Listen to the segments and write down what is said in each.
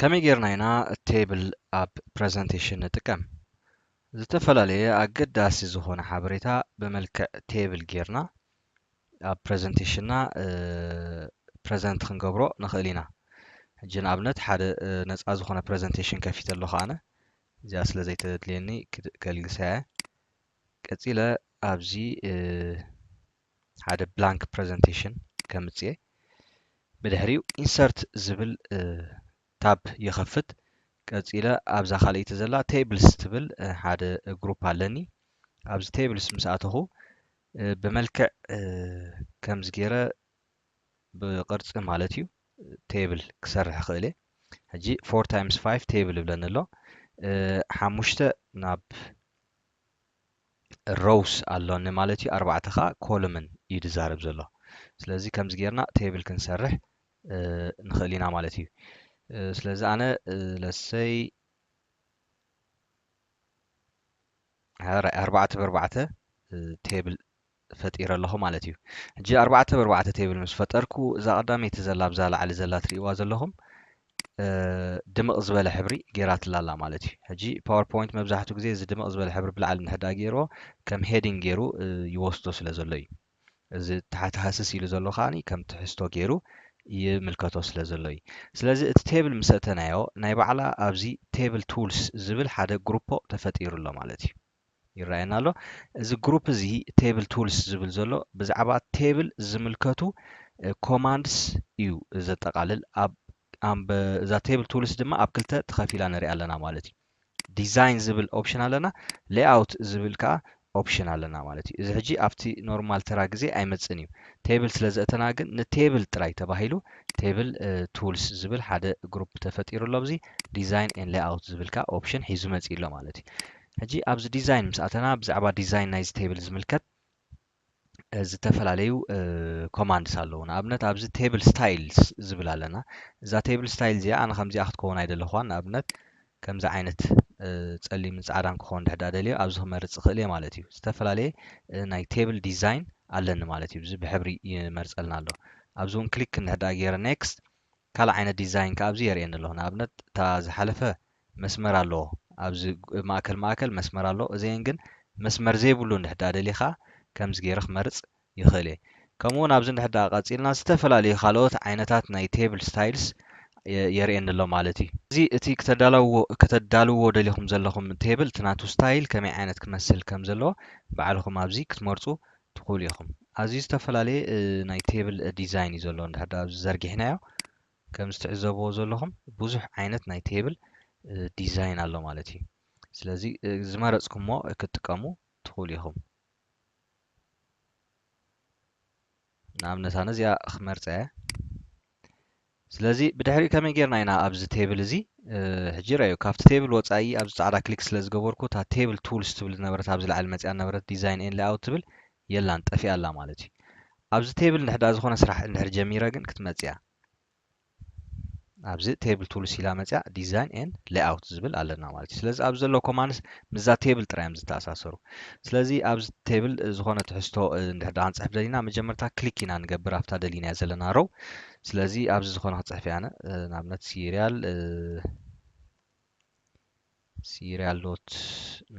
ከመይ ጌርና ኢና ቴብል ኣብ ፕረዘንቴሽን ንጥቀም? ዝተፈላለየ ኣገዳሲ ዝኾነ ሓበሬታ ብመልክዕ ቴብል ጌርና ኣብ ፕረዘንቴሽንና ፕረዘንት ክንገብሮ ንኽእል ኢና ሕጂ ንኣብነት ሓደ ነፃ ዝኾነ ፕረዘንቴሽን ከፊተ ኣለኹ ኣነ እዚኣ ስለ ዘይተድልየኒ ከልግሳ እየ ቀፂለ ኣብዚ ሓደ ብላንክ ፕረዘንቴሽን ከምፅየ ብድሕሪኡ ኢንሰርት ዝብል tab ይኸፍት ቀጺለ ኣብዛ ካልኣይቲ ዘላ tables ትብል ሓደ group ኣለኒ ኣብዚ tables ምስ ኣተኹ ብመልክዕ ከምዚ ገይረ ብቅርጺ ማለት እዩ table ክሰርሕ ክእል እየ ሕጂ 4 times 5 table ይብለኒ ኣሎ ሓሙሽተ ናብ ሮውስ ኣሎኒ ማለት እዩ ኣርባዕተ ከዓ ኮሉምን እዩ ዝዛረብ ዘሎ ስለዚ ከምዚ ጌርና ቴብል ክንሰርሕ ንኽእል ኢና ማለት እዩ ስለዚ ኣነ ለሰይ ኣርባዕተ ብኣርባዕተ ቴብል ፈጢረ ኣለኹ ማለት እዩ። ሕጂ ኣርባዕተ ብ ኣርባዕተ ቴብል ምስ ፈጠርኩ እዛ ቀዳመይቲ ዘላ ኣብዛ ላዕሊ ዘላ ትርእይዋ ዘለኹም ድምቕ ዝበለ ሕብሪ ጌራትላ ኣላ ማለት እዩ። ሕጂ ፓወርፖይንት መብዛሕትኡ ግዜ እዚ ድምቕ ዝበለ ሕብሪ ብላዕሊ እንድሕር ደኣ ጌርዎ ከም ሄዲንግ ጌሩ ይወስዶ ስለ ዘሎ እዩ። እዚ ታሕቲ ሃስስ ኢሉ ዘሎ ከኣ ከም ትሕዝቶ ጌሩ ይምልከቶ ስለ ዘሎ እዩ። ስለዚ እቲ ቴብል ምስ ኣእተናዮ ናይ ባዕላ ኣብዚ ቴብል ቱልስ ዝብል ሓደ ግሩፖ ተፈጢሩ ኣሎ ማለት እዩ። ይረኣየና ኣሎ። እዚ ግሩፕ እዚ ቴብል ቱልስ ዝብል ዘሎ ብዛዕባ ቴብል ዝምልከቱ ኮማንድስ እዩ ዘጠቓልል። ኣብ ኣምበ እዛ ቴብል ቱልስ ድማ ኣብ ክልተ ተኸፊላ ንሪኣ ኣለና ማለት እዩ። ዲዛይን ዝብል ኦፕሽን ኣለና፣ ሌይኣውት ዝብል ከዓ ኦፕሽን ኣለና ማለት እዩ። እዚ ሕጂ ኣብቲ ኖርማል ተራ ግዜ ኣይመጽእን እዩ። ቴብል ስለ ዘእተና ግን ንቴብል ጥራይ ተባሂሉ ቴብል ቱልስ ዝብል ሓደ ግሩፕ ተፈጢሩ ኣሎ። ኣብዚ ዲዛይን ኤን ሌይኣውት ዝብል ከዓ ኦፕሽን ሒዙ መጺኡ ኣሎ ማለት እዩ። ሕጂ ኣብዚ ዲዛይን ምስ ኣተና ብዛዕባ ዲዛይን ናይዚ ቴብል ዝምልከት ዝተፈላለዩ ኮማንድስ ኣለዉ ንኣብነት ኣብዚ ቴብል ስታይልስ ዝብል ኣለና እዛ ቴብል ስታይል እዚኣ ኣነ ከምዚኣ ክትከውን ኣይደለኹዋን ንኣብነት ከምዚ ዓይነት ጸሊምን ጻዕዳን ክኸውን ድሕዳ ደልዮ ኣብዚ ክመርጽ ይኽእል እየ ማለት እዩ ዝተፈላለየ ናይ ቴብል ዲዛይን ኣለኒ ማለት እዩ እዚ ብሕብሪ ይመርጸልና ኣሎ ኣብዚ እውን ክሊክ ንድሕዳ ገይረ ኔክስት ካልእ ዓይነት ዲዛይን ከ ኣብዚ የርእየኒ ኣሎ ንኣብነት እታ ዝሓለፈ መስመር ኣሎ ኣብዚ ማእከል ማእከል መስመር ኣሎ እዘን ግን መስመር ዘይብሉ እንድሕር ድኣ ደሊኻ ከምዚ ጌረ ክመርጽ ይኽእል እየ ከምኡ ውን ኣብዚ እንድሕር ድኣ ቀጺልና ዝተፈላለዩ ካልኦት ዓይነታት ናይ Table Styles የርእየኒ ኣሎ ማለት እዩ። እዚ እቲ ክተዳላውዎ ከተዳልውዎ ደሊኹም ዘለኹም Table እቲ ናቱ Style ከመይ ዓይነት ክመስል ከም ዘለዎ ባዕልኹም ኣብዚ ክትመርጹ ትኽእሉ ኢኹም። ኣዝዩ ዝተፈላለየ ናይ Table Design እዩ ዘሎ እንድሕር ድኣ ኣብዚ ዘርጊሕናዮ ከምዚ ትዕዘብዎ ዘለኹም ብዙሕ ዓይነት ናይ ቴብል ዲዛይን ኣሎ ማለት እዩ ስለዚ ዝመረጽኩሞ ክትጥቀሙ ትኽእሉ ኢኹም ንኣብነት ኣነ እዚኣ ክመርፀ እየ ስለዚ ብድሕሪ ከመይ ጌርና ኢና ኣብዚ ቴብል እዚ ሕጂ ረዩ ካብቲ ቴብል ወፃኢ ኣብዚ ፃዕዳ ክሊክ ስለ ዝገበርኩ እታ ቴብል ቱልስ ትብል ዝነበረት ኣብዚ ላዕሊ መፅያ ነበረት ዲዛይን ኤን ላይኣውት ትብል የላን ጠፊኣ ኣላ ማለት እዩ ኣብዚ ቴብል ንሕዳ ዝኾነ ስራሕ እንድሕር ጀሚረ ግን ክትመጽእ እያ ኣብዚ ቴብል ቱልስ ኢላ መጽያ ዲዛይን ኤን ሌኣውት ዝብል ኣለና ማለት እዩ ስለዚ ኣብዚ ዘሎ ኮማንስ ምዛ ቴብል ጥራይ እዮም ዝተኣሳሰሩ ስለዚ ኣብዚ ቴብል ዝኾነ ትሕዝቶ እንድሕር ዳኣ ክንጽሕፍ ደሊና መጀመርታ ክሊክ ኢና ንገብር ኣብታ ደሊናያ ዘለና ሮው ስለዚ ኣብዚ ዝኾነ ክጽሕፍ እያ ኣነ ንኣብነት ሲሪያል ሲርያል ሎት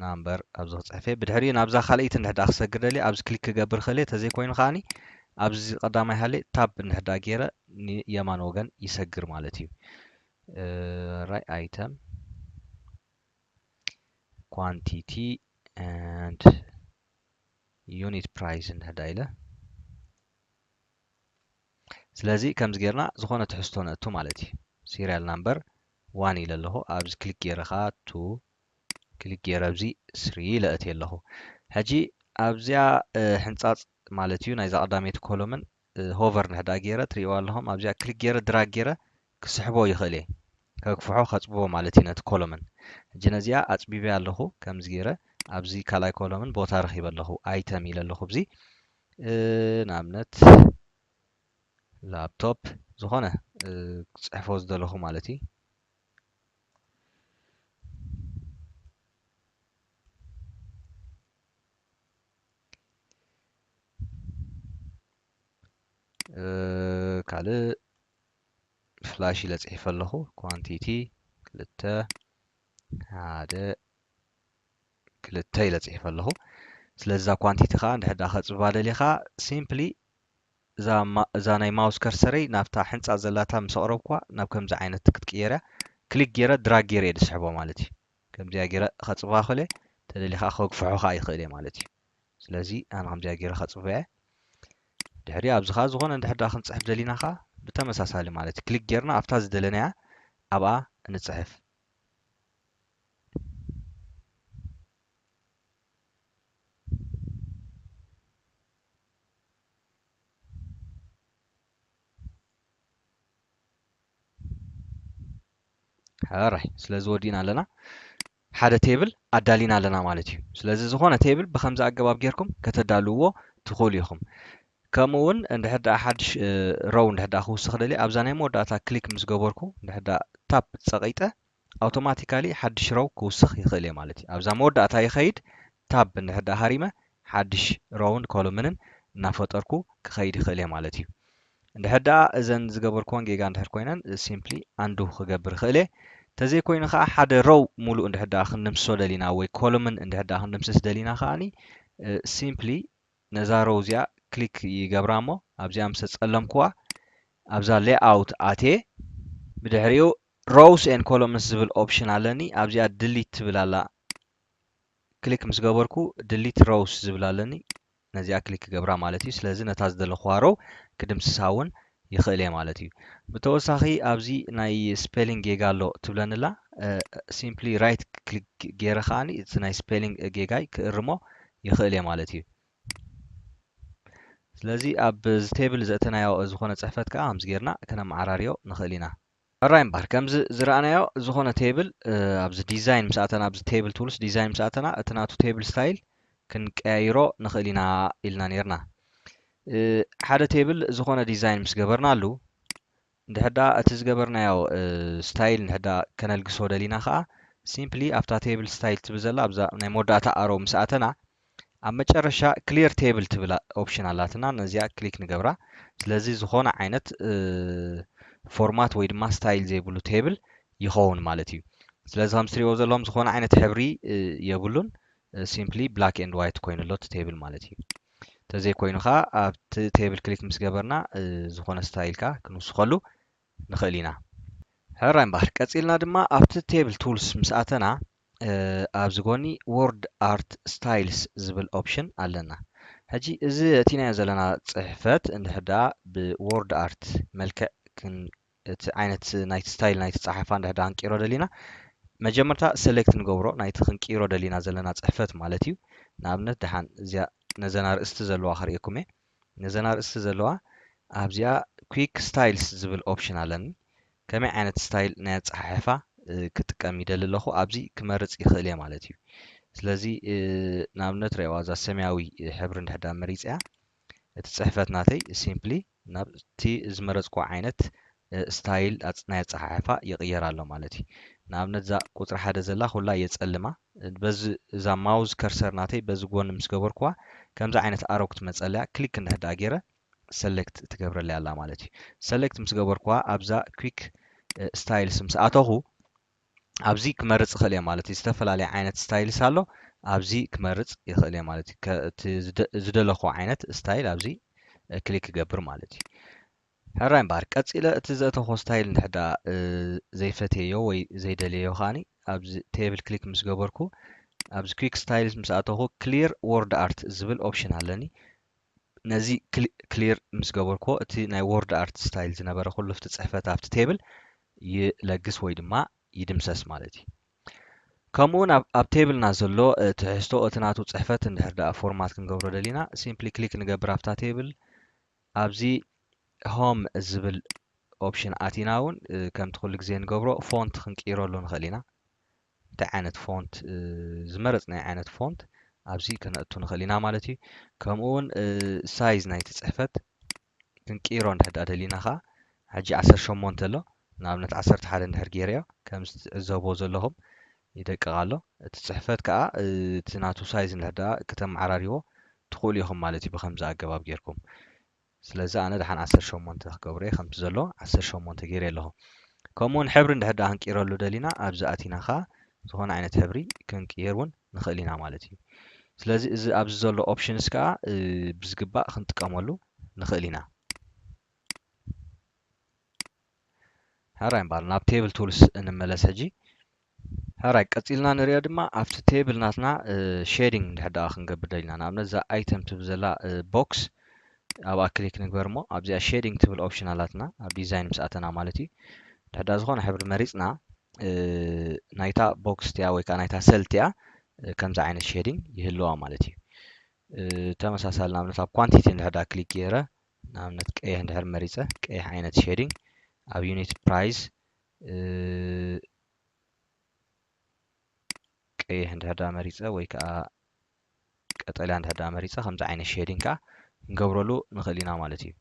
ናምበር ኣብዚ ክጽሕፍ'የ ብድሕሪኡ ናብዛ ካልኣይቲ እንድሕር ደኣ ክሰግር ደልየ ኣብዚ ክሊክ ክገብር እኽእል'የ ተዘይኮይኑ ከኣኒ ኣብዚ ቀዳማይ ሃልየ ታብ እንድሕር ደኣ ጌረ ንየማን ወገን ይሰግር ማለት እዩ ራይ ኣይተም ኳንቲቲ and ዩኒት ፕራይስ እንድሕር ደኣ ኢለ ስለዚ ከምዚ ጌርና ዝኾነ ትሕዝቶ ነእቱ ማለት እዩ ሲሪያል ናምበር ዋን ኢለ ኣለኹ ኣብዚ ክሊክ ጌረ ኸዓ ቱ ክሊክ ጌረ ኣብዚ ስሪ ኢለ እትየ ኣለኹ ሕጂ ኣብዚኣ ሕንጻጽ ማለት እዩ ናይዛ ቀዳመይቲ ኮሎምን ሆቨር ንሕዳ ጌረ ትርእይዋ ኣለኹም ኣብዚኣ ክሊክ ጌረ ድራግ ጌረ ክስሕቦ ይኽእል'የ ከግፍሖ ከጽብቦ ማለት'ዩ ነቲ ኮሎምን። ሕጂ ነዚኣ ኣጽቢበያ ኣለኹ ከምዚ ጌረ ኣብዚ ካልኣይ ኮሎምን ቦታ ረኺበ ኣለኹ ኣይተም ኢለ ኣለኹ ብዚ ንኣብነት ላፕቶፕ ዝኾነ ክጽሕፎ ዝደለኹ ማለት እዩ። ካልእ ፍላሽ ኢለ ጽሒፈ ኣለኹ ኳንቲቲ ክልተ ሓደ ክልተ ኢለ ጽሒፈ ኣለኹ ስለዚ እዛ ኳንቲቲ ከዓ እንድሕር ድኣ ከጽብባ ደሊኻ ሲምፕሊ እዛ እዛ ናይ ማውስ ከርሰረይ ናብታ ሕንጻ ዘላታ ምስ ኣቕረብኳ ናብ ከምዚ ዓይነት ክትቅየር እያ ክሊክ ገይረ ድራግ ገይረ እየ ዝስሕቦ ማለት እዩ ከምዚኣ ገይረ ከጽብባ ክእል እየ ተደሊኻ ከግፍሖ ከዓ ይኽእል እየ ማለት እዩ ስለዚ ኣነ ከምዚኣ ጌረ ከጽበያ ድሕሪ ኣብዚ ከኣ ዝኾነ እንድሕር ደኣ ክንጽሕፍ ደሊና ከኣ ብተመሳሳሊ ማለት እዩ ክሊክ ጌርና ኣብታ ዝደለናያ ኣብኣ ንጽሕፍ ሕራይ ስለዚ ወዲእና ኣለና ሓደ ቴብል ኣዳሊና ኣለና ማለት እዩ። ስለዚ ዝኾነ ቴብል ብኸምዚ ኣገባብ ጌርኩም ከተዳልውዎ ትኽእሉ ኢኹም። ከምኡ እውን እንድሕር ደኣ ሓድሽ ሮው እንድሕር ደኣ ክውስኽ ደልየ ኣብዛ ናይ መወዳእታ ክሊክ ምስ ገበርኩ እንድሕር ደኣ ታፕ ጸቒጠ ኣውቶማቲካሊ ሓድሽ ሮው ክውስኽ ይኽእል እየ ማለት እዩ። ኣብዛ መወዳእታ ይኸይድ ታብ እንድሕር ደኣ ሃሪመ ሓድሽ ሮውን ኮሎምንን እናፈጠርኩ ክኸይድ ይኽእል እየ ማለት እዩ። እንድሕር ደኣ እዘን ዝገበርኩወን ጌጋ እንድሕር ኮይነን ሲምፕሊ ኣንዱ ክገብር ይኽእል እየ። ተዘይ ኮይኑ ከኣ ሓደ ሮው ሙሉእ እንድሕር ደኣ ክንድምስሶ ደሊና ወይ ኮሉምን እንድሕር ደኣ ክንድምስስ ደሊና ከኣኒ ሲምፕሊ ነዛ ሮው እዚኣ ክሊክ ይገብራ እሞ ኣብዚኣ ምስ ተጸለምኩዋ ኣብዛ ሌኣውት ኣትየ ብድሕሪኡ ሮውስ ኤን ኮሎምንስ ዝብል ኦፕሽን ኣለኒ ኣብዚኣ ድሊት ትብል ኣላ ክሊክ ምስ ገበርኩ ድሊት ሮውስ ዝብል ኣለኒ ነዚኣ ክሊክ ክገብራ ማለት እዩ ስለዚ ነታ ዝደለኹዋ ሮው ክድምስሳ ውን ይኽእል እየ ማለት እዩ ብተወሳኺ ኣብዚ ናይ ስፔሊንግ ጌጋ ኣሎ ትብለኒ ኣላ ሲምፕሊ ራይት ክሊክ ገይረ ከዓኒ እቲ ናይ ስፔሊንግ ጌጋይ ክእርሞ ይኽእል እየ ማለት እዩ ስለዚ ኣብ ቴብል ዘእተናዮ ዝኾነ ጽሕፈት ከዓ ከምዚ ጌርና ከነመዓራርዮ ንኽእል ኢና ሕራይ እምበኣር ከምዚ ዝረኣናዮ ዝኾነ ቴብል ኣብዚ ዲዛይን ምስ ኣተና ኣብዚ ቴብል ቱልስ ዲዛይን ምስ ኣተና እቲ ናቱ ቴብል ስታይል ክንቀያይሮ ንኽእል ኢና ኢልና ነይርና ሓደ ቴብል ዝኾነ ዲዛይን ምስ ገበርናሉ እንድሕዳ እቲ ዝገበርናዮ ስታይል እንድሕዳ ከነልግሶ ደሊና ከዓ ሲምፕሊ ኣብታ ቴብል ስታይል ትብል ዘላ ኣብዛ ናይ መወዳእታ ኣሮ ምስ ኣተና ኣብ መጨረሻ ክሊር ቴብል ትብል ኦፕሽን ኣላትና ነዚኣ ክሊክ ንገብራ ስለዚ ዝኾነ ዓይነት ፎርማት ወይ ድማ ስታይል ዘይብሉ ቴብል ይኸውን ማለት እዩ ስለዚ ከም ትሪእዎ ዘለኹም ዝኾነ ዓይነት ሕብሪ የብሉን ሲምፕሊ ብላክ ኤንድ ዋይት ኮይኑ ኣሎ እቲ ቴብል ማለት እዩ እንተዘይኮይኑ ከዓ ኣብቲ ቴብል ክሊክ ምስ ገበርና ዝኾነ ስታይል ከዓ ክንውስኸሉ ንኽእል ኢና ሕራይ እምበኣር ቀፂልና ድማ ኣብቲ ቴብል ቱልስ ምስ ኣተና ኣብዚ ጎኒ ዎርድ ኣርት ስታይልስ ዝብል ኦፕሽን ኣለና። ሕጂ እዚ ኣእቲናዮ ዘለና ጽሕፈት እንድሕር ደኣ ብዎርድ ኣርት መልክዕ ክን እቲ ዓይነት ናይቲ ስታይል ናይቲ ጸሓፋ እንድሕር ደኣ ክንቅይሮ ደሊና መጀመርታ ሰሌክት ንገብሮ ናይቲ ክንቅይሮ ደሊና ዘለና ጽሕፈት ማለት እዩ። ንኣብነት ደሓን እዚኣ ነዘን ኣርእስቲ ዘለዋ ከርእየኩም እየ። ነዘን ኣርእስቲ ዘለዋ ኣብዚኣ quick styles ዝብል ኦፕሽን ኣለኒ ከመይ ዓይነት ስታይል ናይ ኣጸሓሕፋ ክጥቀም ይደሊ ኣለኹ ኣብዚ ክመርጽ ይኽእል እየ ማለት እዩ ስለዚ ንኣብነት ረዋ እዛ ሰማያዊ ሕብሪ እንድሕዳ መሪጽያ እቲ ጽሕፈት ናተይ ሲምፕሊ ናብቲ ዝመረጽኩ ዓይነት ስታይል ናይ ኣጸሓሕፋ ይቕየር ኣሎ ማለት እዩ። ንኣብነት እዛ ቁጽሪ ሓደ ዘላ ኩላ የጸልማ። በዚ እዛ ማውዝ ከርሰር ናተይ በዚ ጎኒ ምስ ገበርኩዋ ከምዚ ዓይነት ኣሮ ክትመጸለያ ክሊክ እንድሕር ደኣ ጌረ ሰለክት ትገብረለይ ኣላ ማለት እዩ። ሰለክት ምስ ገበርኩዋ ኣብዛ ኲክ ስታይልስ ምስ ኣተኹ ኣብዚ ክመርጽ ይኽእል እየ ማለት እዩ። ዝተፈላለየ ዓይነት ስታይልስ ኣሎ ኣብዚ ክመርጽ ይኽእል እየ ማለት እዩ። እቲ ዝደለኹዎ ዓይነት ስታይል ኣብዚ ክሊክ ክገብር ማለት እዩ። ሕራይ እምበኣር ቀጺለ እቲ ዘእተኹዎ ስታይል እንድሕር ደኣ ዘይፈትየዮ ወይ ዘይደልየዮ ከኣ ኣብዚ Table ክሊክ ምስ ገበርኩ ኣብዚ Quick Styles ምስ ኣተኹ Clear Word Art ዝብል ኦፕሽን ኣለኒ። ነዚ ክሊር ምስ ገበርኩዎ እቲ ናይ Word Art ስታይል ዝነበረ ኩሉ ኣብቲ ጽሕፈት ኣብቲ ቴብል ይለግስ ወይ ድማ ይድምሰስ ማለት እዩ። ከምኡውን ኣብ ቴብልና ዘሎ ትሕዝቶ እቲ ናቱ ጽሕፈት እንድሕር ደኣ ፎርማት ክንገብሮ ደሊና ሲምፕሊ ክሊክ ንገብር ኣብታ ቴብል ኣብዚ Home ዝብል Option ኣቲና ውን ከምቲ ኩሉ ግዜ ንገብሮ Font ክንቅይረሉ ንኽእል ኢና። እንታይ ዓይነት Font ዝመረጽናዮ ዓይነት Font ኣብዚ ከነእቱ ንኽእል ኢና ማለት እዩ። ከምኡ ውን Size ናይቲ ጽሕፈት ክንቅይሮ እንድሕር ድኣ ደሊና ከኣ ሕጂ ዓሰርተ ሸሞንተ ኣሎ ንኣብነት ዓሰርተ ሓደ እንድሕር ጌረዮ ከምዚ ትዕዘብዎ ዘለኹም ይደቅቕ ኣሎ እቲ ጽሕፈት ከኣ እቲ ናቱ ሳይዝ እንድሕደኣ ክተመዓራርይዎ ትኽእሉ ኢኹም ማለት እዩ ብኸምዚ ኣገባብ ጌርኩም ስለዚ ኣነ ደሓን ዓሰርተ ሸሞንተ ክገብሮ እየ ከምቲ ዘሎ ዓሰርተ ሸሞንተ ጌሬ ኣለኹ ከምኡ ውን ሕብሪ እንድሕር ደኣ ክንቅይረሉ ደሊና ኣብዚ ኣቲና ከኣ ዝኾነ ዓይነት ሕብሪ ክንቅይር ውን ንኽእል ኢና ማለት እዩ ስለዚ እዚ ኣብዚ ዘሎ ኦፕሽንስ ከኣ ብዝግባእ ክንጥቀመሉ ንኽእል ኢና። ሕራይ እምበኣር ናብ ቴብል ቱልስ እንመለስ ሕጂ ሕራይ ቀጺልና ንሪኦ ድማ ኣብቲ ቴብል ናትና ሼዲንግ እንድሕር ደኣ ክንገብር ደሊና ንኣብነት እዛ ኣይተም ትብል ዘላ ቦክስ ኣብኣ ክሊክ ንግበር እሞ ኣብዚኣ ሼዲንግ ትብል ኦፕሽን ኣላትና ኣብ ዲዛይን ምስ ኣተና ማለት እዩ እንድሕር ደኣ ዝኾነ ሕብሪ መሪጽና ናይታ ቦክስ እቲኣ ወይ ከዓ ናይታ ሰል እቲኣ ከምዚ ዓይነት ሼዲንግ ይህልዋ ማለት እዩ ተመሳሳሊ ንኣብነት ኣብ ኳንቲቲ እንድሕር ደኣ ክሊክ ገይረ ንኣብነት ቀይሕ እንድሕር መሪፀ ቀይሕ ዓይነት ሼዲንግ ኣብ ዩኒት ፕራይስ ቀይሕ እንድሕር ዳ መሪፀ ወይ ከዓ ቀጠልያ እንድሕር ዳ መሪፀ ከምዚ ዓይነት ሼዲንግ ከዓ ክንገብረሉ ንኽእል ኢና ማለት እዩ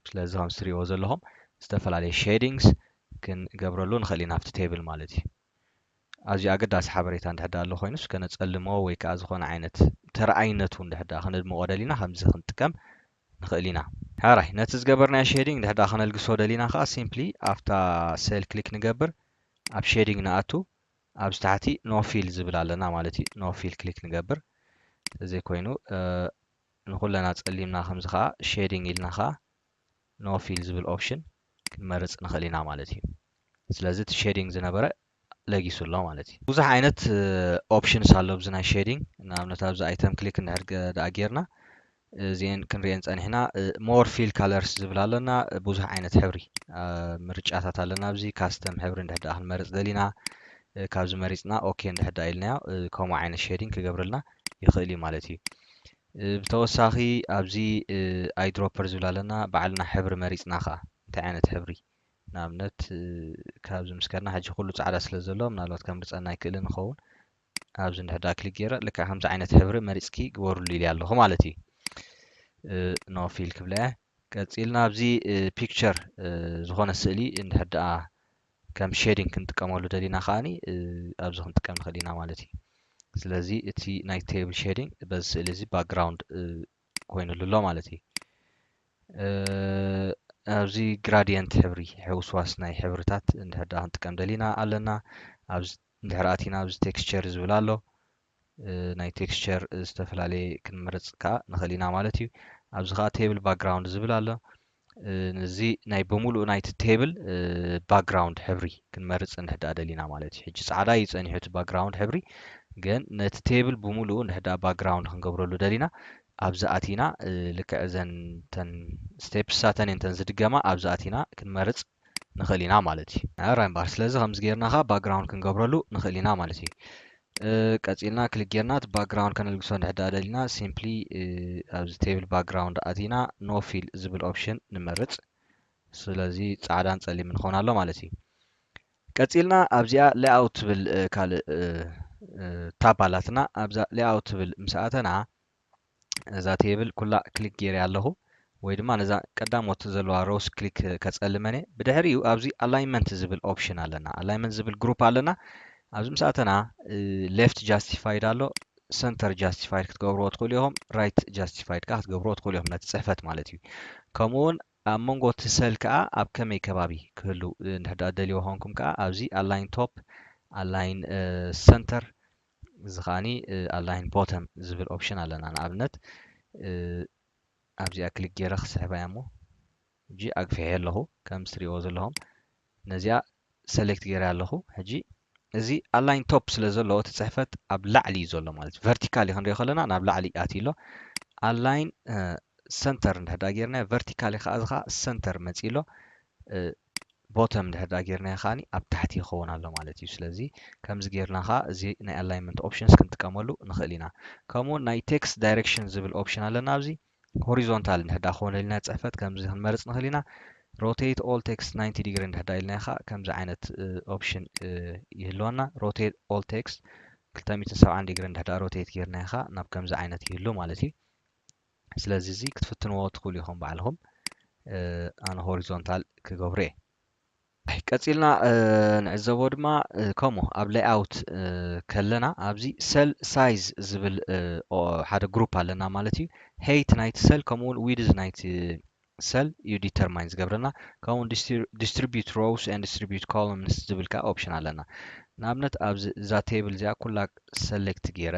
ስለዚ ከም ዝትሪእዎ ዘለኹም ዝተፈላለየ ሼዲንግስ ክንገብረሉ ንኽእል ኢና ኣብቲ ቴብል ማለት እዩ ኣዝዩ ኣገዳሲ ሓበሬታ እንድሕር ደኣ ኣሎ ኮይኑስ ከነጸልሞ ወይ ከኣ ዝኾነ ዓይነት ተረኣይነቱ እንድሕር ደኣ ከነድምቖ ደሊና ከምዚ ክንጥቀም ንኽእል ኢና። ሐራይ ነቲ ዝገበርናዮ ሼዲንግ እንድሕር ደኣ ከነልግሶ ደሊና ከኣ ሲምፕሊ ኣብታ ሴል ክሊክ ንገብር ኣብ ሼዲንግ ንኣቱ ኣብዚ ታሕቲ ኖ ፊል ዝብል ኣለና ማለት እዩ ኖ ፊል ክሊክ ንገብር ተዘይኮይኑ ንኹለና ጸሊምና ከምዚ ከኣ ሼዲንግ ኢልና ከኣ no fill ዝብል option ክንመርጽ ንኽእል ኢና ማለት እዩ ስለዚ እቲ shading ዝነበረ ለጊሱ ኣሎ ማለት እዩ። ብዙሕ ዓይነት options ኣሎ ኣብዚ ናይ shading ንኣብነት ኣብዚ item click እንድሕር ደኣ ጌርና እዚኤን ክንሪኤን ጸኒሕና more fill colors ዝብል ኣለና ብዙሕ ዓይነት ሕብሪ ምርጫታት ኣለና ኣብዚ custom ሕብሪ እንድሕር ደኣ ክንመርጽ ደሊና ካብዚ መሪጽና ok እንድሕር ደኣ ኢልናዮ ከምኡ ዓይነት shading ክገብረልና ይኽእል እዩ ማለት እዩ። ብተወሳኺ ኣብዚ ኣይ ድሮፐር ዝብል ኣለና ባዕልና ሕብሪ መሪፅና ከኣ እንታይ ዓይነት ሕብሪ ንኣብነት ካብዚ ምስ ከድና ሕጂ ኩሉ ጻዕዳ ስለ ዘሎ ምናልባት ከምርጸና ኣይክእልን ይኸውን ኣብዚ እንድሕር ደኣ ክሊክ ገይረ ልክዕ ከምዚ ዓይነት ሕብሪ መሪጽኪ ግበርሉ ኢልያ ኣለኹ ማለት እዩ ኖ ፊል ክብላ እየ ቀጺልና ኣብዚ ፒክቸር ዝኾነ ስእሊ እንድሕር ደኣ ከም ሸዲንግ ክንጥቀመሉ ደሊና ከኣ ኣብዚ ክንጥቀም ንኽእል ኢና ማለት እዩ ስለዚ እቲ ናይ ቴብል ሸዲንግ በዚ ስእሊ እዚ ባክግራውንድ ኮይኑሉ ኣሎ ማለት እዩ ኣብዚ ግራዲየንት ሕብሪ ሕውስዋስ ናይ ሕብርታት እንድሕር ደኣ ክንጥቀም ደሊና ኣለና ኣብዚ እንድሕር ኣቲና ኣብዚ ቴክስቸር ዝብል ኣሎ ናይ ቴክስቸር ዝተፈላለየ ክንመርጽ ከኣ ንኽእል ኢና ማለት እዩ ኣብዚ ከኣ ቴብል ባክግራውንድ ዝብል ኣሎ እዚ ናይ ብምሉእ ናይቲ ቴብል ባክግራውንድ ሕብሪ ክንመርፅ እንሕዳ ደሊና ማለት እዩ ሕጂ ፃዕዳ እዩ ፀኒሑ እቲ ባክግራውንድ ሕብሪ ግን ነቲ ቴብል ብምሉኡ እንሕዳ ባክግራውንድ ክንገብረሉ ደሊና ኣብዚ ኣቲና ልክዕ እዘን ተን ስቴፕሳተን እየን ተን ዝድገማ ኣብዚ ኣቲና ክንመርፅ ንኽእል ኢና ማለት እዩ። ራይም ባር ስለዚ ከምዚ ጌርና ከኣ ባክግራውንድ ክንገብረሉ ንኽእል ኢና ማለት እዩ። ቀጺልና ክሊክ ጌርና እቲ ባክግራውንድ ከነልግሶ እንድሕር ደኣ ደሊና ሲምፕሊ ኣብዚ ቴብል ባክግራውንድ ኣቲና ኖ ፊል ዝብል ኦፕሽን ንመርጽ። ስለዚ ጻዕዳን ጸሊምን ክኾን ኣሎ ማለት እዩ። ቀጺልና ኣብዚኣ ሌኣውት ትብል ካልእ ታብ ኣላትና ኣብዛ ሌኣውት ትብል ምስ ኣተና ነዛ ቴብል ኩላ ክሊክ ጌርያ ኣለኹ ወይ ድማ ነዛ ቀዳሞት ዘለዋ ሮውስ ክሊክ ከጸልመን እየ ብድሕሪኡ ኣብዚ ኣላይመንት ዝብል ኦፕሽን ኣለና ኣላይመንት ዝብል ግሩፕ ኣለና ኣብዚ ምስ ኣተና ሌፍት ጃስቲፋይድ ኣሎ ሰንተር ጃስቲፋይድ ክትገብርዎ ትኽእሉ ኢኹም ራይት ጃስቲፋይድ ከዓ ክትገብርዎ ትኽእሉ ኢኹም ነቲ ፅሕፈት ማለት እዩ ከምኡውን ኣብ መንጎ እቲ ሰል ከዓ ኣብ ከመይ ከባቢ ክህሉ ንሕዳ ደልዮ ኮንኩም ከዓ ኣብዚ ኣላይን ቶፕ ኣላይን ሰንተር እዚ ከኣኒ ኣላይን ቦተም ዝብል ኦፕሽን ኣለና ንኣብነት ኣብዚኣ ክሊክ ገይረ ክስሕባ እያ እሞ ሕጂ ኣግፊሐ ኣለኹ ከም ዝትሪእዎ ዘለኹም ነዚኣ ሰሌክት ገይረ ኣለኹ ሕጂ እዚ ኣላይን ቶፕ ስለ ዘለዎ እቲ ፅሕፈት ኣብ ላዕሊ እዩ ዘሎ ማለት እዩ ቨርቲካሊ ክንሪኦ ከለና ናብ ላዕሊ ኣትዩ ኣሎ ኣላይን ሰንተር እንድሕዳ ጌርናዮ ቨርቲካሊ ከዓ እዚ ከዓ ሰንተር መፂ ኣሎ ቦተም ድሕሪ ድኣ ጌርናዮ ከኣ ኣብ ታሕቲ ይኸውን ኣሎ ማለት እዩ ስለዚ ከምዚ ጌርና ከኣ እዚ ናይ ኣላይመንት ኦፕሽንስ ክንጥቀመሉ ንኽእል ኢና ከምኡውን ናይ ቴክስት ዳይሬክሽን ዝብል ኦፕሽን ኣለና ኣብዚ ሆሪዞንታል እንድሕር ድኣ ክኾነ ኢልና ፅሕፈት ከምዚ ክንመርፅ ንኽእል ኢና ሮቴት ኦል ቴክስት 90 ዲግሪ እንድሕር ድኣ ኢልናዮ ከኣ ከምዚ ዓይነት ኦፕሽን ይህልወና ሮቴት ኦል ቴክስት 270 ዲግሪ እንድሕር ድኣ ሮቴት ጌርናዮ ከኣ ናብ ከምዚ ዓይነት ይህሉ ማለት እዩ ስለዚ እዚ ክትፍትንዎ ትኽእሉ ኢኹም ባዕልኹም ኣነ ሆሪዞንታል ክገብሮ እየ ቀፂልና ንዕዘቦ ድማ ከምኡ ኣብ ሌይኣውት ከለና ኣብዚ ሰል ሳይዝ ዝብል ሓደ ግሩፕ ኣለና ማለት እዩ ሄይት ናይቲ ሰል ከምኡ እውን ዊድዝ ናይቲ ሰል እዩ ዲተርማይን ዝገብረልና ከምኡውን ዲስትሪቢዩት ሮውስ ን ዲስትሪቢዩት ኮሎምንስ ዝብል ከዓ ኦፕሽን ኣለና ንኣብነት ኣብዚ እዛ ቴብል እዚኣ ኩላ ሰሌክት ገይረ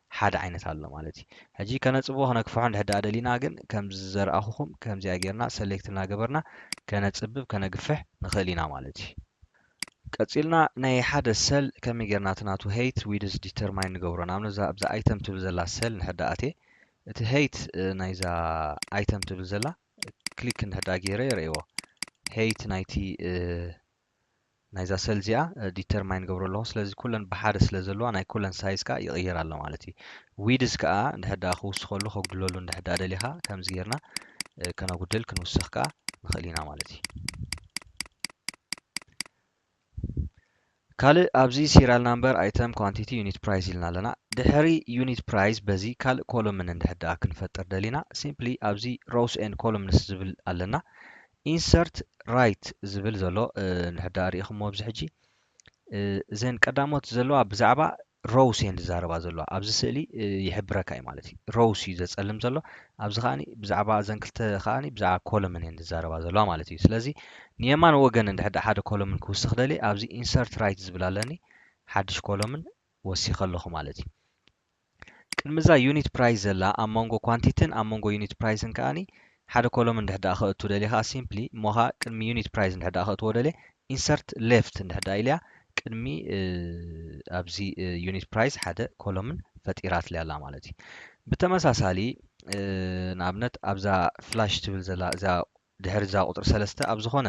ሓደ ዓይነት ኣሎ ማለት እዩ ሕጂ ከነጽብቦ ከነክፍሖ እንድሕር ደኣ ደሊና ግን ከምዚ ዘርኣኹኹም ከምዚኣ ጌርና ሰሌክት እናገበርና ከነጽብብ ከነግፍሕ ንኽእል ኢና ማለት እዩ ቀጺልና ናይ ሓደ ሰል ከመይ ጌርና እቲ ናቱ ሄይት ዊድዝ ዲተርማይን ንገብሮ ንኣብነት እዛ ኣብዛ ኣይተም ትብል ዘላ ሰል እንድሕር ደኣ ኣትየ እቲ ሄይት ናይዛ ኣይተም ትብል ዘላ ክሊክ እንድሕር ደኣ ጌረ የርእይዎ ሄይት ናይቲ ናይዛ ሰል እዚኣ ዲተርማይን ገብሮ ኣለኹ ስለዚ ኩለን ብሓደ ስለ ዘለዋ ናይ ኩለን ሳይዝ ከዓ ይቕይር ኣሎ ማለት እዩ ዊድዝ ከዓ እንድሕር ድኣ ክውስኸሉ ከጉድለሉ እንድሕር ድኣ ደሊኻ ከምዚ ጌርና ከነጉድል ክንውስኽ ከዓ ንኽእል ኢና ማለት እዩ ካልእ ኣብዚ ሲሪያል ናምበር ኣይተም ኳንቲቲ ዩኒት ፕራይስ ኢልና ኣለና ድሕሪ ዩኒት ፕራይስ በዚ ካልእ ኮሎምን እንድሕር ድኣ ክንፈጥር ደሊና ሲምፕሊ ኣብዚ ሮውስ ኤንድ ኮሎምንስ ዝብል ኣለና Insert Right ዝብል ዘሎ ንሕዳ ርኢኹሞ ኣብዚ ሕጂ እዘን ቀዳሞት ዘለዋ ብዛዕባ ሮውስ እየን ዝዛረባ ዘለዋ ኣብዚ ስእሊ ይሕብረካ እዩ ማለት እዩ ሮውስ እዩ ዘጸልም ዘሎ ኣብዚ ከዓኒ ብዛዕባ እዘን ክልተ ከዓኒ ብዛዕባ ኮለምን እየን ዝዛረባ ዘለዋ ማለት እዩ ስለዚ ንየማን ወገን እንድሕዳ ሓደ ኮለምን ክውስኽ ደልየ ኣብዚ ኢንሰርት ራይት ዝብል ኣለኒ ሓድሽ ኮለምን ወሲኸ ኣለኹ ማለት እዩ ቅድሚ እዛ ዩኒት ፕራይስ ዘላ ኣብ መንጎ ኳንቲትን ኣብ መንጎ ዩኒት ፕራይስን ከኣ ሓደ ኮሎም እንድሕር ደኣ ከእቱ ደልየ ከኣ ሲምፕሊ እሞ ከኣ ቅድሚ ዩኒት ፕራይስ እንድሕር ደኣ ከእትዎ ደልየ ኢንሰርት ሌፍት እንድሕር ደኣ ኢልያ ቅድሚ ኣብዚ ዩኒት ፕራይስ ሓደ ኮሎምን ፈጢራትልያ ኣላ ማለት እዩ ብተመሳሳሊ ንኣብነት ኣብዛ ፍላሽ ትብል ዘላ እዛ ድሕሪ እዛ ቁፅሪ ሰለስተ ኣብ ዝኾነ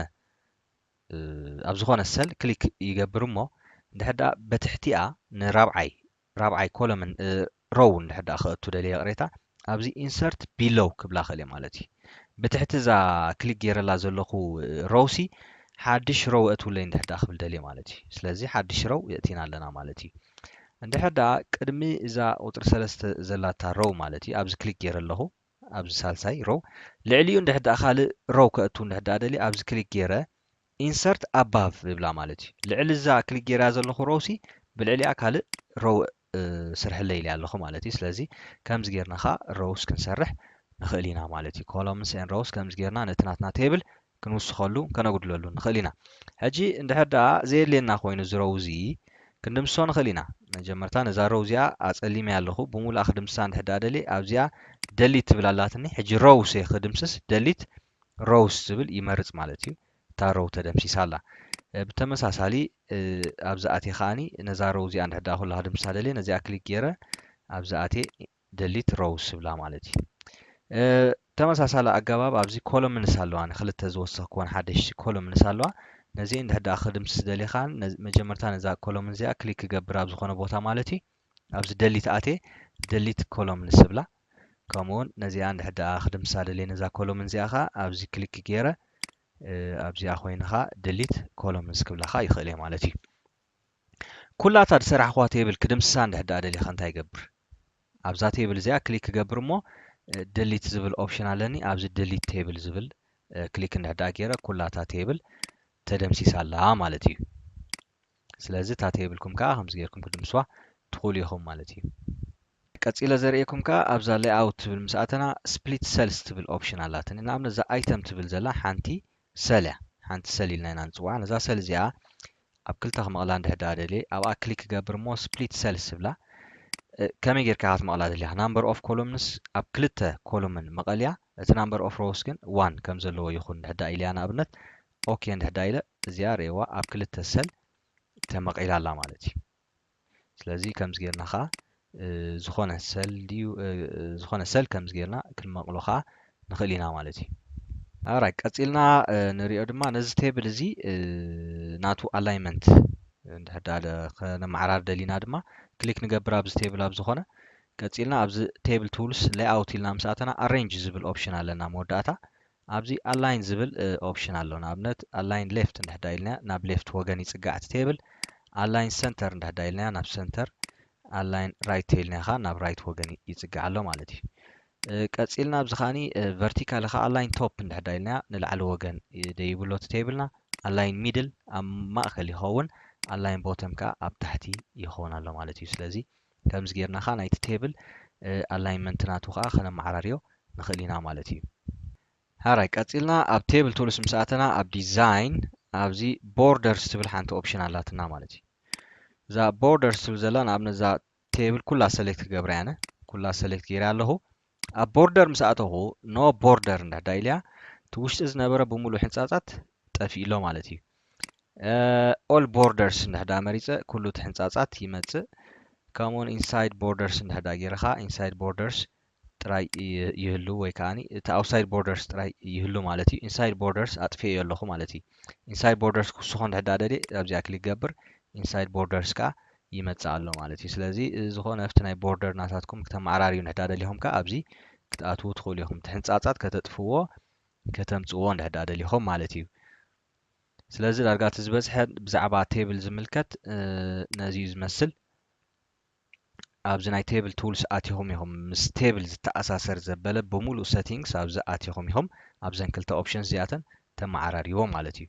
ኣብ ዝኾነ ሰል ክሊክ ይገብር እሞ እንድሕር ደኣ በትሕቲኣ ንራብዓይ ራብዓይ ኮለምን ሮው እንድሕር ደኣ ክእቱ ደልየ ይቕሬታ ኣብዚ insert below ክብላ እኽእል እየ ማለት እዩ። ብትሕቲ እዛ ክሊክ ገይረላ ዘለኹ ሮው ሲ ሓድሽ ሮው እእትውለይ እንድሕር ደኣ ክብል ደልየ ማለት እዩ። ስለዚ ሓድሽ ሮው የእቲና ኣለና ማለት እዩ። እንድሕር ደኣ ቅድሚ እዛ ቁጽሪ ሰለስተ ዘላታ ሮው ማለት እዩ ኣብዚ ክሊክ ገይረ ኣለኹ ኣብዚ ሳልሳይ ሮው ልዕሊኡ እንድሕር ደኣ ካልእ ሮው ከእቱ እንድሕር ደኣ ደልየ ኣብዚ ክሊክ ገይረ Insert above ዝብላ ማለት እዩ። ልዕሊ እዛ ክሊክ ጌረያ ዘለኹ row ሲ ብልዕሊኣ ካልእ row ስርሕለይ ኢለያ ኣለኹ ማለት እዩ። ስለዚ ከምዚ ጌርና ከኣ rows ክንሰርሕ ንኽእል ኢና ማለት እዩ። Columns and rows ከምዚ ጌርና ነቲ ናትና table ክንውስኸሉ ከነጉድለሉን ንኽእል ኢና። ሕጂ እንድሕር ደኣ ዘየድልየና ኮይኑ እዚ row እዚ ክንድምስሶ ንኽእል ኢና። መጀመርታ ነዛ row እዚኣ ኣጸሊመያ ኣለኹ። ብሙሉኣ ክድምስሳ እንድሕር ደኣ ደልየ ኣብዚኣ delete ትብል ኣላትኒ። ሕጂ rows እየ ክድምስስ delete Rows ዝብል ይመርጽ ማለት እዩ። እታ Row ተደምሲሳ ኣላ። ብተመሳሳሊ ኣብዚ ኣትየ ከኣ ነዛ Row እዚኣ እንድሕር ደኣ ኩላ ክድምስሳ ደልየ ነዚኣ ክሊክ ጌረ ኣብዚ ኣትየ Delete Rows ይብላ ማለት እዩ። ብተመሳሳሊ ኣገባብ ኣብዚ Columns ኣለዋኒ ክልተ ዝወሰኽኩወን ሓደሽቲ Columns ኣለዋ። ነዚኤን እንድሕር ደኣ ክድምስስ ደልየ ከኣ መጀመርታ ነዛ Column እዚኣ ክሊክ ክገብር ኣብ ዝኾነ ቦታ ማለት እዩ። ኣብዚ ደሊት ኣትየ ደሊት ኮሎምንስ ዝብላ ከምኡውን ነዚኣ እንድሕር ደኣ ክድምስሳ ደልየ ነዛ ኮሎምን እዚኣ ከኣ ኣብዚ ክሊክ ገይረ ኣብዚኣ ኮይኑ ከኣ ደሊት ኮሎምንስ ክብላ ከኣ ይኽእል እየ ማለት እዩ ኩላታ ዝሰራሕኹዋ ቴብል ክድምስሳ እንድሕር ደኣ ደልየ ከ እንታይ ይገብር ኣብዛ ቴብል እዚኣ ክሊክ ክገብር እሞ ደሊት ዝብል ኦፕሽን ኣለኒ ኣብዚ ደሊት ቴብል ዝብል ክሊክ እንድሕር ደኣ ገይረ ኩላታ ቴብል ተደምሲሳ ኣላ ማለት እዩ ስለዚ እታ ተይብልኩም ከኣ ከምዚ ጌርኩም ክድምስዋ ትኽእሉ ኢኹም ማለት እዩ። ቀጺለ ዘርእየኩም ከኣ ኣብዛ Layout ትብል ምስ ኣተና Split Cells ትብል Option ኣላትኒ። ንኣብነት እዛ Item ትብል ዘላ ሓንቲ Cell እያ። ሓንቲ Cell ኢልና ኢና ንጽውዓ። ነዛ Cell እዚኣ ኣብ ክልተ ክመቕላ እንድሕር ደኣ ደልየ ኣብኣ Click ክገብር እሞ Split Cells ትብላ። ከመይ ጌርካ ኢኻ ክትመቕላ ደሊኻ? Number of Columns ኣብ ክልተ ኮሎምን መቐልያ፣ እቲ Number of Rows ግን One ከም ዘለዎ ይኹን እንድሕር ደኣ ኢለያ ንኣብነት ኦኬ እንድሕዳ ኢለ እዚኣ ርኤዋ ኣብ ክልተ ሰል ተመቒላ ኣላ ማለት እዩ ስለዚ ከምዚ ጌርና ከዓ ዝኾነ ሰል ድዩ ዝኾነ ሰል ከምዚ ጌርና ክንመቕሎ ከዓ ንኽእል ኢና ማለት እዩ ኣራይ ቀፂልና ንሪኦ ድማ ነዚ ቴብል እዚ ናቱ ኣላይመንት እንድሕዳ ከነመዓራር ደሊና ድማ ክሊክ ንገብር ኣብዚ ቴብል ኣብ ዝኾነ ቀፂልና ኣብዚ ቴብል ቱልስ ሌይኣውት ኢልና ምስ ኣተና ኣሬንጅ ዝብል ኦፕሽን ኣለና መወዳእታ ኣብዚ ኣላይን ዝብል ኦፕሽን ኣሎ ንኣብነት ኣላይን ሌፍት እንድሕዳ ኢልናያ ናብ ሌፍት ወገን ይጽጋዕ እቲ ቴብል ኣላይን ሰንተር እንድሕዳ ኢልናያ ናብ ሰንተር ኣላይን ራይት ተኢልናያ ከኣ ናብ ራይት ወገን ይጽጋዕ ኣሎ ማለት እዩ ቀጺልና ኣብዚ ከኣኒ ቨርቲካሊ ከኣ ኣላይን ቶፕ እንድሕዳ ኢልናያ ንላዕሊ ወገን ደይቡ ኣሎ እቲ ቴብልና ኣላይን ሚድል ኣብ ማእከል ይኸውን ኣላይን ቦተም ከኣ ኣብ ታሕቲ ይኸውን ኣሎ ማለት እዩ ስለዚ ከምዚ ጌርና ከኣ ናይቲ ቴብል ኣላይንመንት ናቱ ከኣ ከነመዓራርዮ ንኽእል ኢና ማለት እዩ። ሃራይ ቀጺልና ኣብ ቴብል ቱልስ ምስ ኣተና ኣብ ዲዛይን ኣብዚ ቦርደርስ ትብል ሓንቲ ኦፕሽን ኣላትና ማለት እዩ። እዛ ቦርደርስ ትብል ዘላ ንኣብነት እዛ ቴብል ኩላ ሰሌክት ክገብራ እየ ኣነ ኩላ ሰሌክት ጌረ ኣለኹ ኣብ ቦርደር ምስ ኣተኹ ን ቦርደር እንድሕዳ ኢልያ እቲ ውሽጢ ዝነበረ ብሙሉእ ሕንጻጻት ጠፊኡ ኣሎ ማለት እዩ። ኦል ቦርደርስ እንድሕዳ መሪጸ ኩሉ እቲ ሕንጻጻት ይመጽእ ከምኡውን ኢንሳይድ ቦርደርስ እንድሕዳ ጌርኻ ኢንሳይድ ቦርደርስ ጥራይ ይህሉ ወይ ከኣ እቲ ኣውትሳይድ ቦርደርስ ጥራይ ይህሉ ማለት እዩ። ኢንሳይድ ቦርደርስ ኣጥፊኤዮ ኣለኹ ማለት እዩ። ኢንሳይድ ቦርደርስ ክውስኾ እንድሕዳ ደልየ ኣብዚኣ ክሊክ ገብር ኢንሳይድ ቦርደርስ ከኣ ይመጽእ ኣሎ ማለት እዩ ስለዚ ዝኾነ ኣብቲ ናይ ቦርደር ናታትኩም ክተመዓራርዩ ንሕዳ ደሊኹም ከኣ ኣብዚ ክትኣትዉ ትኽእሉ ኢኹም እቲ ሕንጻጻት ከተጥፍዎ ከተምጽዎ ንሕዳ ደሊኹም ማለት እዩ ስለዚ ዳርጋ እቲ ዝበዝሐ ብዛዕባ ቴብል ዝምልከት ነዚ እዩ ዝመስል ኣብዚ ናይ ቴብል ቱልስ ኣቲኹም ኢኹም ምስ ቴብል ዝተኣሳሰር ዘበለ ብምሉእ ሰቲንግስ ኣብዚ ኣቲኹም ኢኹም ኣብዘን ክልተ ኦፕሽንስ እዚኣተን ተመዓራሪዎ ማለት እዩ